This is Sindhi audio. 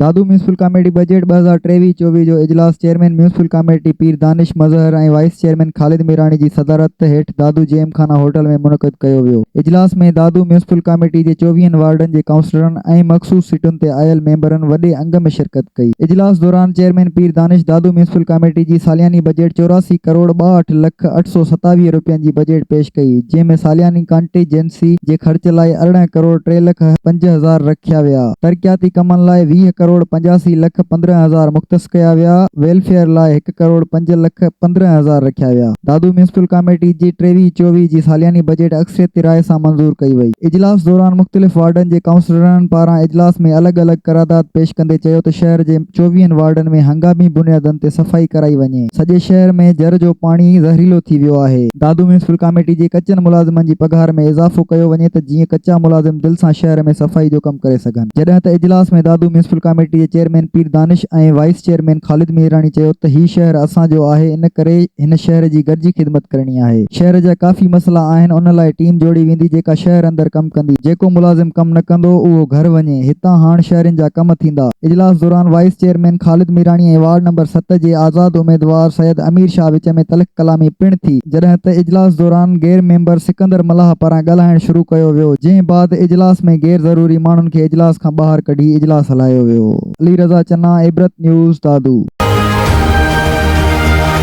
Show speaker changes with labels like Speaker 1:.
Speaker 1: دادو ميونسپل ڪاميٽي بجيٽ ٻه هزار ٽيويهه چوويهه جو اجلاس chairman municipal committee Pir Danish Mazhar ۽ vice chairman Khalid Mirani جي صدارت هيٺ Dadu Gymkhana hotel ۾ منعقد ڪيو ويو اجلاس ۾ دادو ميونسپل ڪاميٽي جي چوويهن وارڊن جي ڪائونسلرن ۽ مخصوص سيٽن تي آيل ميمبرن وڏي انگ ۾ شرڪت ڪئي اجلاس دوران chairman Pir Danish Dadu municipal committee جي سالياني بجيٽ چوراسي ڪروڙ ٻاهٺ لک اٺ سؤ ستاويهه روپين جي بجيٽ پيش ڪئي جنهن ۾ سالياني ڪانٽيجنسي ايف سي جي خرچ لاء ارڙهن ڪروڙ ٽي لک پنج هزار رکيا ويا، ترقياتي ڪمن لاء ويهه ڪروڙ پنجاسي لک پندرهن هزار مختص ڪيا ويا، ويلفيئر لاء هڪ ڪروڙ پنج لک پندرهن هزار رکيا ويا. دادو ميونسپل ڪاميٽي جي ٽيويهه چوويهه جي سالياني بجيٽ اڪثريتي راء سان منظور ڪئي وئي. اجلاس دوران مختلف وارڊن جي ڪائونسلرن پاران اجلاس ۾ الڳ الڳ قرارداد پيش ڪندي چيو ته شهر جي. چوويهن وارڊن ۾ هنگامي بنيادن تي صفائي ڪرائي وڃي، سڄي شهر ۾ جر جو پاڻي زهريلو ٿي ويو آهي، دادو ميونسپل ڪاميٽي جي ڪچن ملازمن جي پگهار ۾ اضافو ڪيو وڃي ته جيئن ڪچا ملازم دل سان شهر ۾ صفائي جو ڪم ڪري سگهن، جڏهن ته اجلاس ۾ دادو ميونسپل ڪاميٽي جي chairman Pir Danish ۽ vice chairman Khalid Mehrani چيو ته هي شهر اسان جو آهي ان ڪري هن شهر جي گڏجي خدمت ڪرڻي آهي، شهر جا ڪافي مسئلا آهن ان لاء ٽيم جوڙي ويندي جيڪا شهر اندر ڪم ڪندي، جيڪو ملازم ڪم نه ڪندو اهو گهر وڃي. هتان هاڻ شهرين جا ڪم ٿيندا. اجلاس دوران vice chairman Khalid Mirani ۽ ward number ست جي آزاد اميدوار سيد امير شاهه وچ ۾ تلخ ڪلامي پڻ ٿي، جڏهن ته اجلاس دوران غير ميمبر سڪندر ملاح پاران ڳالهائڻ شروع ڪيو ويو، جنهن بعد اجلاس ۾ غير ضروري ماڻهن کي اجلاس کان ٻاهر ڪڍي اجلاس هلايو ويو. علي رضا چنا، عبرت نيوز، دادو.